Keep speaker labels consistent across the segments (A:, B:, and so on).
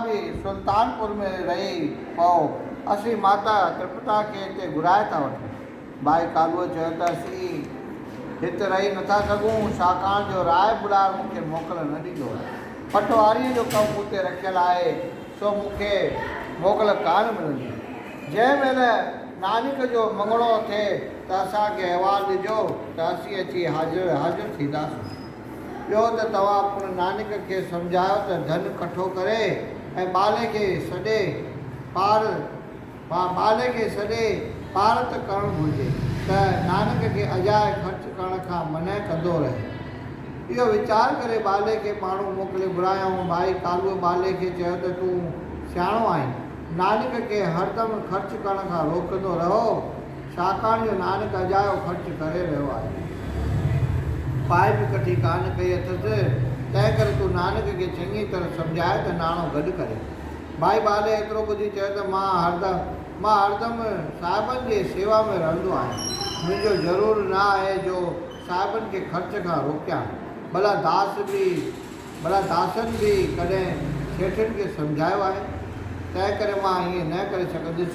A: به سلطانپور ۾ رهي پئو، اسين ماتا ترپتا کي هتي گهرائي ٿا وٺون. ٻائي ڪالوء چيو ته اسين هت رهي نٿا سگهون، ڇاڪاڻ جو راء ٻڏار مون کي موڪل نه ڏيندو. پٽواريء جو ڪم مون تي رکيل آهي، سو مون کي موڪل ڪانه ملندي. جنهن مهل نانڪ جو مڱڻو ٿئي ته اسان کي احوال ڏجو ته اسين اچي حاضر حاضر ٿينداسون. ٻيو ته توهان پڻ نانڪ کي سمجهايو ته ڌن ڪٺو ڪري ۽ ٻالي کي سڏي پار ٻالي کي سڏي پارت ڪرڻ گهرجي ته نانڪ کي اجائي خرچ ڪرڻ کان منع ڪندو رهي. اهو ويچار ڪري ٻالي کي ماڻهو موڪلي گهرايائون. ڀائي ڪالوء ٻالي کي چيو ته تون سياڻو آهين. نانڪ کي هر دم خرچ ڪرڻ کان روڪندو رهو. ڇاڪاڻ جو نانڪ اجايو خرچ ڪري رهيو آهي. پائي به ڪٺي ڪانه ڪئي اٿس، تنهن ڪري تون نانڪ کي چڱي طرح سمجهاء ته ناڻو گڏ ڪري. ڀائي بالي ايترو ٻڌي چيو ته مان هردم مان هردم صاحبن جي سيوا ۾ رهندو آهيان. منهنجو ضرور نه آهي جو صاحبن کي خرچ کان روڪيان. ڀلا داس به. ڀلا داسن به ڪڏهن سيٺن کي سمجهايو آهي؟ تنهنڪري مان ائين نه ڪري سگهنديس.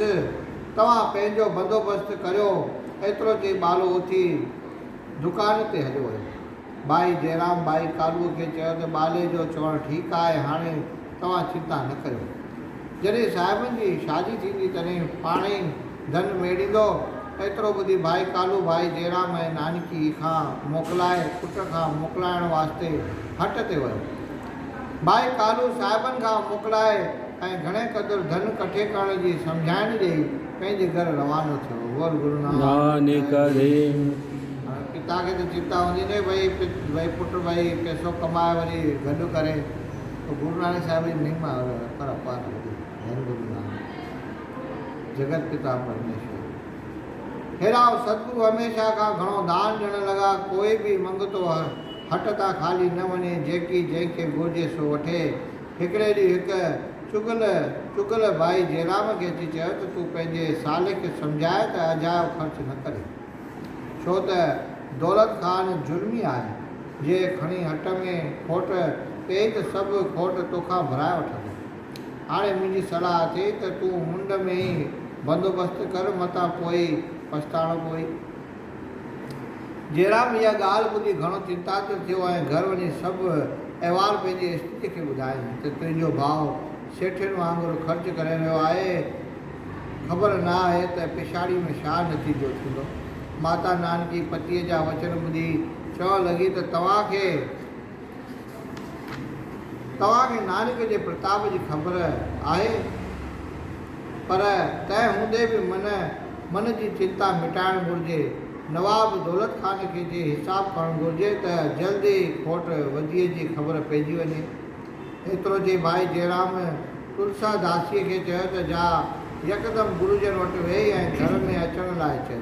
A: توهان پنهنجو بندوبست ڪريو. ايترو چئي ٻالو اٿي دڪان تي هليو ويو. ڀائي جئرام ڀائي ڪالوء کي چيو ته ٻالي جو چوڻ ٺيڪ آهي، هاڻي توهان چنتا نه ڪريو. جڏهن صاحبن جي شادي ٿيندي تڏهن پاڻهي ئي ڌن ميڙيندو. ايترو ٻڌي ڀائي ڪالو ڀائي جيرام ۽ نانڪي کان موڪلائي پٽ کان موڪلائڻ واسطي هٽ تي ويو. ڀائي ڪالو صاحبن کان موڪلائي ۽ گهڻي قدر ڌن ڪٺي ڪرڻ جي سمجهائڻ ڏيئي پنهنجي گهر روانو ٿيو. ور گرونانڪ ديو. هاڻي پتا کي ته چنتا هوندي نه ڀئي ڀئي پٽ ڀئي پئسو ڪمائي وري گڏ ڪري. پر گرونانڪ صاحب جي مهما هر اپار هوندي هئي. ڌن گرونانڪ. جگت پتا پرميشور هيرائو ستگرو هميشه کان گهڻو دان ڏيڻ لڳا ڪوئي به منگتو هٽ تان خالي نه وڃي جيڪي جنهن کي گهرجي سو وٺي هڪڙي ڏينهن هڪ چگل چگل ڀائي جيرام کي اچي چيو ته تون پنهنجي سالڪ کي سمجهاء ته اجايو خرچ نه ڪري ڇو ته دولت خان ظلمي آهي جي کڻي هٽ ۾ کوٽ پئي ته سڀ کوٽ توکان ڀرائي وٺندو. هاڻي منهنجي صلاح اٿئي ته تون منڊ ۾ ئي بندوبست ڪر متان پوء ئي پڇتاڻو پوي. جيرام اها ڳالهه ٻڌي گهڻو چنتاتر ٿيو ۽ گهر وڃي سڀ احوال پنهنجي استريء کي ٻڌايائين ته تنهنجو ڀاء سيٺين وانگر خرچ ڪري رهيو آهي، خبر نه آهي ته پڇاڙيء ۾ ڇا نتيجو ٿيندو. ماتا نانڪي پتيء جا وچن ٻڌي چوڻ لڳي ته توهان کي. توهان کي نانڪ جي پرتاب جي خبر آهي، پر تنهن هوندي به من من جي چنتا مٽائڻ گهرجي. نواب دولت خان کي جي حساب ڪرڻ گهرجي ته جلد ئي کوٽ وڌيء جي خبر پئجي وڃي. ايترو چئي ڀائي جئرام تلسا داسيء کي چيو ته جا يڪدم گرو جن وٽ ويهي ۽ گهر ۾ اچڻ لاء چئو.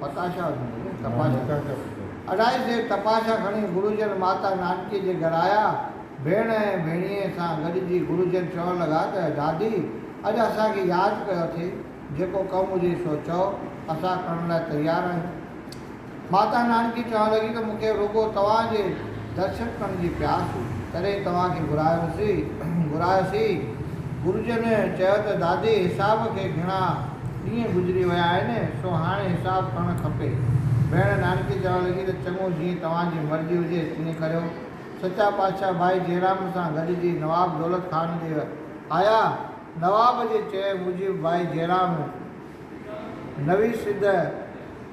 A: پتاشا. اڍائي سير تپاشا کڻي گروجن ماتا نانڪي جي گهر آيا. ڀيڻ ۽ ڀيڻيء سان گڏجي گروجن چوڻ لڳا ته دادي اڄ اسان کي ياد ڪيو اٿئي، جيڪو ڪم هجي سو چئو، اسان ڪرڻ لاء تيار آهيون. ماتا نانڪي چوڻ لڳي ته مون کي رڳو توهان جي درشن ڪرڻ جي پياس هئي، تڏهن توهان کي گهرايوسين. گرو جن چيو ته دادي حساب کي گهڻا ڏينهن گذري ويا آهن، سو هاڻي حساب ڪرڻ کپي. ڀيڻ نانڪي چوڻ لڳي ته چڱو جيئن توهان جي مرضي هجي تيئن ڪريو. سچا پادشاهه ڀائي جيرام سان گڏجي نواب دولت خان ڏي آيا. نواب جي چئي موجب ڀائي جيرام نوي سڌ،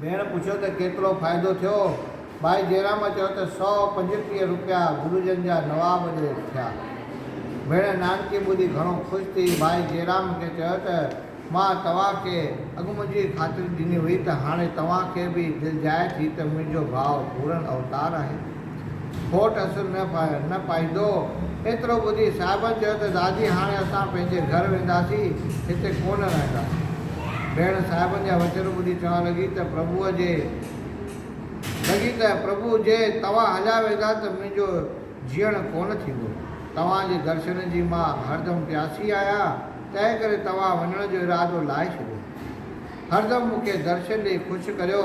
A: ڀيڻ پڇيو ته ڪيترو فائدو ٿيو؟ ڀائي جيرام چيو ته سؤ پنجٽيهه روپيا گرجن جا نواب ڏي ٿيا. ڀيڻ نانڪي ٻڌي گهڻو خوش ٿي ڀائي جيرام کي چيو ته مان توهان کي اڳ منهنجي خاطري ڏني هئي ته هاڻي توهان کي به دلجائي ٿي ته منهنجو ڀاء پورن اوتار آهي. ڦوٽ اسر نه ڦاهر نه پائيندو. ايترو ٻڌي صاحبن چيو ته دادي هاڻي اسان پنهنجي گهر وينداسين، هتي ڪونه رهنداسين. ڀيڻ صاحبن جا وچن ٻڌي چوڻ لڳي ته پرڀوء جي لڳي ته پرڀو جي توهان هليا ويندا ته منهنجو جيئڻ ڪونه ٿيندو. توهان جي درشن جي مان هردم پياسي آهيان، تنهن ڪري توهان وڃڻ جو ارادو لاهي ڇڏيو. هردم مون کي درشن ڏئي خوش ڪريو،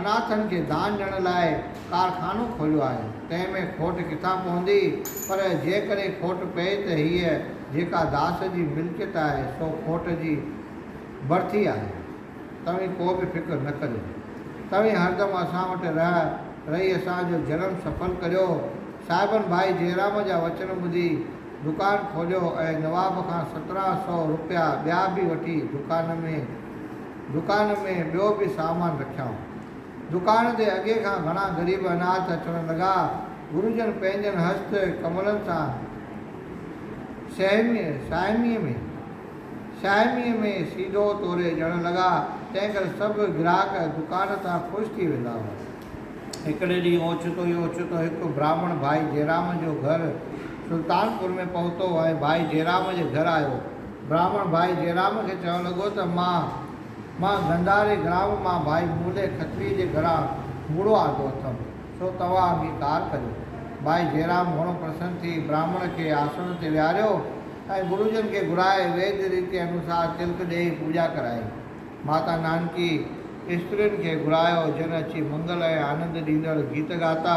A: اناٿن کي دان ڏيڻ لاء ڪارخانو کوليو آهي، تنهن ۾ کوٽ ڪٿان پوندي؟ پر جيڪڏهن کوٽ پئي ته هيء جيڪا داس جي ملڪيت آهي، سو کوٽ جي برٿي آهي. توهين ڪو به فڪر نه ڪريو. توهين هردم اسان وٽ رهه، رهي اسان جو جرم سڦل ڪريو. صاحبن ڀائي جيرام جا وچن ٻڌي دڪان کوليو ۽ نواب کان سترهن سئو روپيا ٻيا به وٺي دڪان ۾ دڪان ۾ ٻيو به سامان رکيائون. دڪان تي اڳي کان گهڻا غريب اناٿ اچڻ لڳا. گرجن پنهنجن هست ڪملن سان سهميء، ساهميء ۾، ساهميء ۾ سيڌو توري ڏيڻ لڳا، تنهن ڪري سڀ گراهڪ دڪان تان خوش ٿي ويندا هئا. هڪڙي ڏينهن اوچتو ئي اوچتو هڪ برهمڻ ڀائي جيرام جو گهر سلطانپور ۾ پهتو ۽ ڀائي جيرام جي گهر آيو. براهمڻ ڀائي جيرام کي چوڻ لڳو ته مان مان گنڌاري گرام مان ڀائي مولي کتري جي گهران مڙهو آندو اٿم، سو توهان انگيڪار ڪريو. ڀائي جيرام گهڻو پرسن ٿي براهمڻ کي آسڻ تي ويهاريو ۽ گرو جن کي گهرائي ويد ريتي انوسار تلڪ ڏيئي پوڄا ڪرائي. ماتا نانڪي استرين کي گهرايو جن اچي منگل ۽ آنند ڏيندڙ گيت ڳاتا.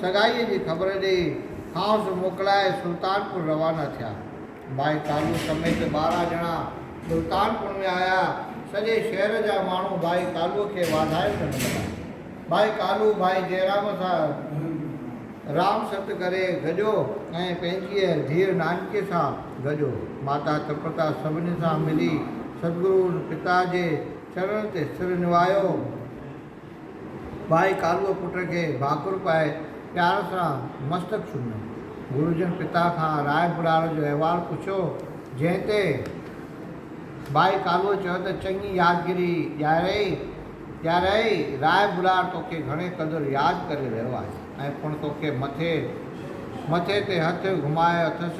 A: سگائيء جي خبر ڏيئي، کانئس موڪلائي سلطانپور روانا ٿيا. ڀائي ڪالو سميت ٻارهن ڄڻا سلطانپور ۾ آيا. سڄي شهر جا ماڻهو ڀائي ڪالوء کي واڌايون ڏيڻ لڳا. ڀائي ڪالو ڀائي جئرام سان رام ست ڪري گڏيو ۽ پنهنجيء ڌيء نانڪيء سان گڏيو. ماتا ترپتا سڀني سان ملي ستگرو پتا جي چرڻن تي سر نوايو. ٻائي ڪالوء پٽ کي ڀاڪر پائي پيار سان مستڪ چميو. گرو جن پتا کان راء بھرار جو احوال پڇيو، جنھن تي ٻائي ڪالوء چيو ته چڱي يادگيري ڏياريئي ڏياريئي، راء بھرار توکي گھڻي قدر ياد ڪري رھيو آھي ۽ پڻ توکي مٿي مٿي تي ھٿ گھمايو اٿس،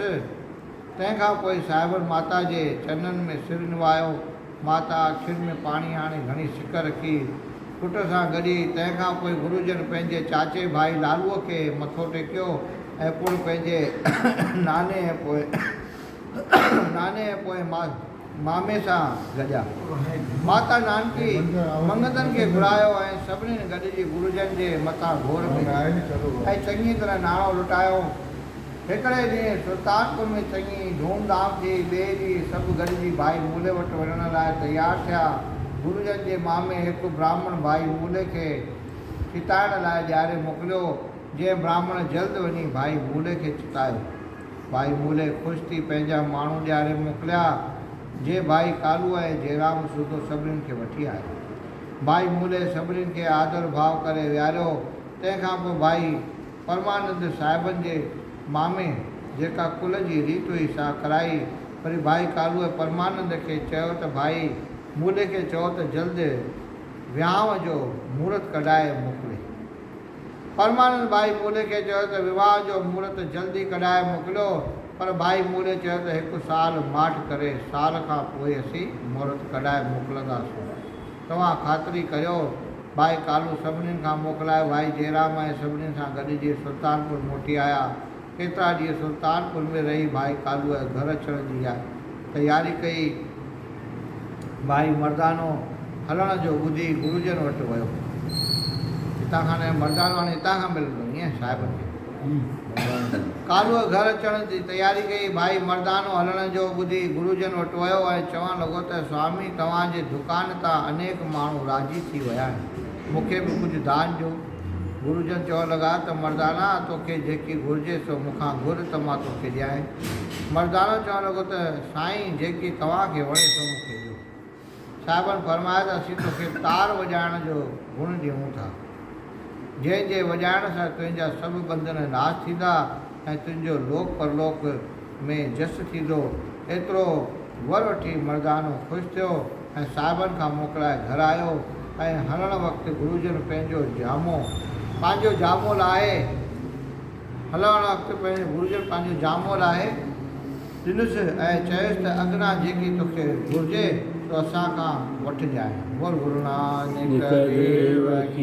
A: تنهن کان پوء صاحبن ماتا جي چرنن ۾ سر نوايو. ماتا اکين ۾ پاڻي آڻي گهڻي سڪ رکي، پٽ سان گڏي. تنهن کان پوء گرو جن پنهنجي چاچي ڀائي لالوء کي مٿو ٽيڪيو ۽ پڻ پنهنجي ناني ۽ پوء ناني ۽ پوء ماس. مامي سان گڏيا. ماتا نانڪي منگتن کي گهرايو ۽ سڀنين گڏجي گرجن جي مٿان گهور ڪئي ۽ چڱيء طرح ناڻو لٽايو. هڪڙي ڏينهن سلطانپور ۾ چڱي ڌوم ڌام ٿي. ٻئي ڏينهن سڀ گڏجي ڀائي مولي وٽ وڃڻ لاء تيار ٿيا. گرجن جي مامي هڪ براهمڻ ڀائي مولي کي چتائڻ لاء ڏياري موڪليو، جنهن براهمڻ جلد وڃي ڀائي مولي کي چتايو. ڀائي مولي خوش ٿي پنهنجا ماڻهو ڏياري موڪليا، جي ڀائي ڪالو ۽ جيرام سوڌو سڀنين کي وٺي آيو. ڀائي مولي سڀنين کي آڌر ڀاء ڪري ويهاريو، تنهن کان پوء ڀائي پرمانند صاحبن جي مامي جيڪا ڪل جي ريت هئي سا ڪرائي، وري ڀائي ڪالوء پرمانند کي چيو ته ڀائي مولي کي چئو ته جلد ويهانء جو مهورت ڪڍائي موڪلي. پرمانند ڀائي مولي کي چيو ته وواهه جو مهورت جلد ئي ڪڍائي موڪليو پر ڀائي مولي چيو ته هڪ سال ماٺ ڪري سال کان پوء اسين مهورت ڪڍائي موڪلنداسون توهان خاطري ڪريو ڀائي ڪالو سڀنين کان موڪلائي ڀائي جئرام ۽ سڀنين سان گڏجي سلطانپور موٽي آيا ڪيترا ڏينهن سلطانپور ۾ رهي ڀائي ڪالوء گهر اچڻ جي تياري ڪئي ڀائي مردانو هلڻ جو ٻڌي گروجن وٽ ويو. هتان کان نه مردانو هاڻي هتان کان ملندو ايئن صاحبن کي ڪالهه گهر اچڻ جي تياري ڪئي. ڀائي مردانو هلڻ جو ٻڌي گروجن وٽ ويو ۽ چوڻ لڳو ته سوامي توهان جي دڪان تان انيڪ ماڻهو راضي ٿي ويا آهن مون کي به ڪجهه دان ڏيو. گرو جن چوڻ لڳا ته مردانا توکي جيڪي گهرجي سو مون کان گهر ته مان توکي ڏيانء. مردانو چوڻ لڳو ته سائين جيڪي توهان کي وڻي سو مون کي ڏيو. صاحبن فرمايو ته اسين توکي تار وڄائڻ جو گڻ ڏيون ٿا. جنهن جي وڄائڻ سان تنهنجا سڀ ٻنڌن ناس ٿيندا ۽ تنهنجو لوڪ پرلوڪ ۾ جس ٿيندو. ايترو ور وٺي مردانو خوش ٿيو. ۽ صاحبن کان موڪلائي گهر آيو ۽ هلڻ وقت گروجن پنهنجو جامو پنهنجو جامو لاهي هلڻ وقت پنهنجو گروجن پنهنجو جامو لاهي ڏنس ۽ چيس ته اگنا جيڪي توکي گهرجي سو اسان کان وٺجانء بول گرونانڪ ديو ڪي